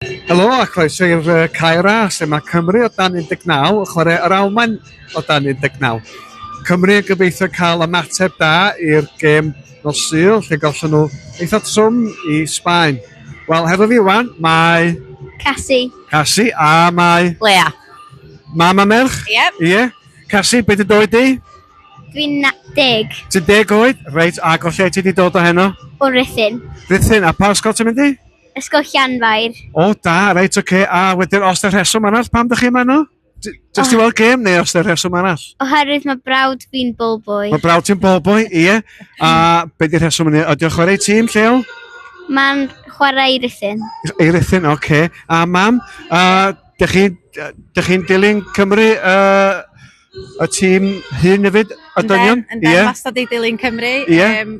Helo a croeso i'r uh, Caer A, lle mae Cymru o dan 19 yn chwarae yr Almaen o dan 19. Cymru yn gobeithio cael ymateb da i'r gêm nos Sul, lle gollon nhw eitha trwm i Sbaen. Wel, hefo fi wan, mae... Cassie. Cassie, a mae... Lea. Mam a merch? Ie. Yep. Ie. Yeah. Cassie, beth ydw i di? Dwi'n deg. Ti'n deg oed? Reit, a gollai ti di dod o heno? O Rithyn. Rithyn, a pa ysgol ti'n mynd i? Ysgol Llanfair. O, da, reit, oce. Okay. A wedyn, os da rheswm arall, pam da chi yma yno? Just i oh. weld gêm neu os da rheswm arall? Oherwydd mae brawd fi'n bol boi. Mae brawd ti'n bol boi, ie. A beth di rheswm yna? Ydy o chwarae tîm lleol? Mae'n chwarae i Ruthin. I Ruthin, oce. Okay. A mam, uh, dych chi'n chi dilyn Cymru uh, y tîm hyn hefyd, y dynion? Yn den, yn den, yeah. wastad i dilyn Cymru. Yeah. Um,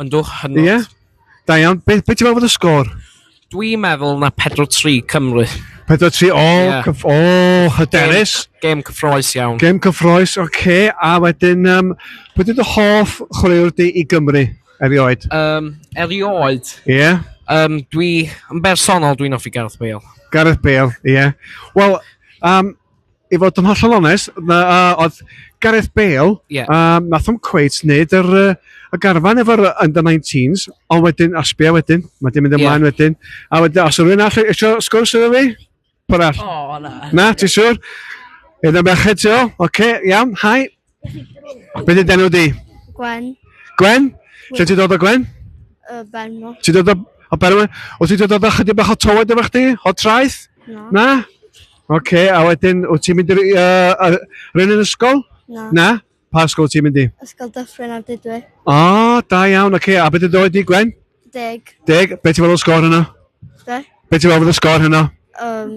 Yndwch, hynod. Ie. Da iawn. Be, be ti'n meddwl bod y sgôr? Dwi'n meddwl na 4-3 Cymru. 4-3, o, yeah. cyf, o, hyderus. Game, game cyffroes iawn. Game cyffroes, oce. Okay. A wedyn, um, beth ydy dy hoff chwaraewr di i Gymru erioed? Um, erioed? Ie. Yeah. Um, dwi, yn bersonol, dwi'n offi Gareth Bale. Gareth Bale, ie. Yeah. Wel, um, i fod yn hollol onest, na, uh, oedd Gareth Bale, yeah. um, nath o'n cweit wneud yr, uh, y garfan efo'r under 19s, ond wedyn, a sbio wedyn, mae dim mynd ymlaen yeah. wedyn, a wedyn, os rwy'n all eisiau sgwrs efo fi, pwrall. O, oh, na. Na, ti siwr? Yna merched ti o, oce, okay, iawn, hai. Beth ydy'n enw di? Gwen. Gwen? Lle ti dod o Gwen? Y Benmo. Ti dod o... O Benmo? O ti dod o chydig bach o tywed efo chdi? O traeth? Na. Na? Oce, okay, a wedyn, o ti'n mynd i'r... Uh, Rhyn yn ysgol? Na. Na? Pa ysgol ti'n mynd i? Ysgol Dyffryn ar Dydwy. O, oh, da iawn, oce. Okay. A beth ydy'n oed di, Gwen? Deg. Deg? Beth ti'n fel o sgor hynna? Be? Beth ti'n fel o sgor hynna? Um,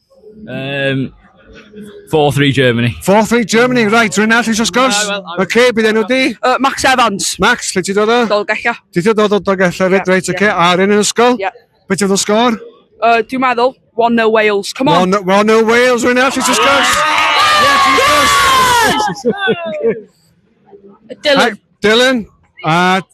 Um, 4-3 Germany. 4-3 Germany, right, rwy'n all eisiau sgwrs. Na, wel, I'm- Oce, bydd enw di. Uh, Max Evans, Max, lle ti dod o? Dolgella. Ti ti dod o Dolgella, reit, Ie, reit, ie. oce. A ryn yn ysgol? Ie. Be ti fod o sgor? Uh, dwi'n meddwl, 1-0 Wales. Come on. One, one o Wales, rwy'n all eisiau sgwrs. Yes, we sgwrs. Dylan. Dylan, a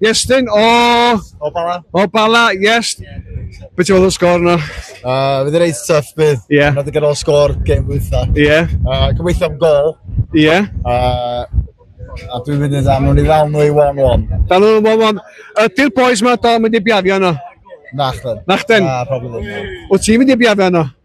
Iestyn o... O Bala. O Bala, yes. Beth ti'n meddwl o'r sgôr yna? Uh, fydd yn reit tuff bydd. Ie. Yeah. Nad o'r sgôr gem wytha. Ie. Yeah. Uh, Gobeithio am gol. Ie. Yeah. Uh, A dwi'n mynd i dda, nhw'n i ddawn nhw i 1-1. Dan nhw'n 1-1. Ydy'r boys ma da mynd i biafio yno? Nachden. Nachden? Na, probably ddim. Wyt ti'n mynd i biafio yno?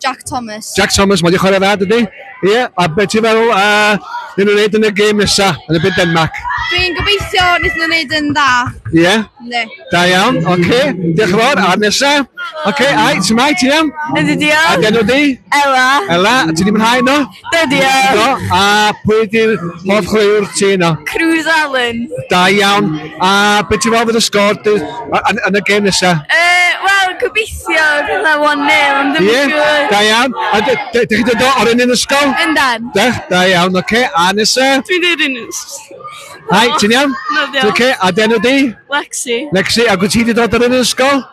Jack Thomas. Jack Thomas, mae'n chwarae dda, dydy? Ie, yeah. a beth ti'n feddwl a uh, nhw'n gwneud yn y gêm nesa, yn y byd Denmark? Dwi'n gobeithio wnaeth nhw'n gwneud yn dda. Ie? Yeah? Ne. Da iawn, oce. Okay. Diolch yn fawr, a'r nesa. Oce, okay, ai, ti'n mai, ti'n iawn? Ydy, diolch. A gen o di? Ela. Ela, ti di mwynhau no? Be di o? A pwy di'r hoff chwaraewr ti yno? Cruz Allen. Da iawn. A be ti'n meddwl fydd y sgôr yn y gêm nesa? Uh, Wel, gobeithio gyda 1-0, ond ddim yn siŵr. Da iawn. A dych chi dod o'r un yn ysgol? Yndan. Da, da iawn, oce. Okay. A nesa? Dwi'n dweud yn Hai, ti'n iawn? Dwi'n iawn. Oce, a denw di? Lexi. Lexi, a gwyt ti wedi dod o'r un yn ysgol?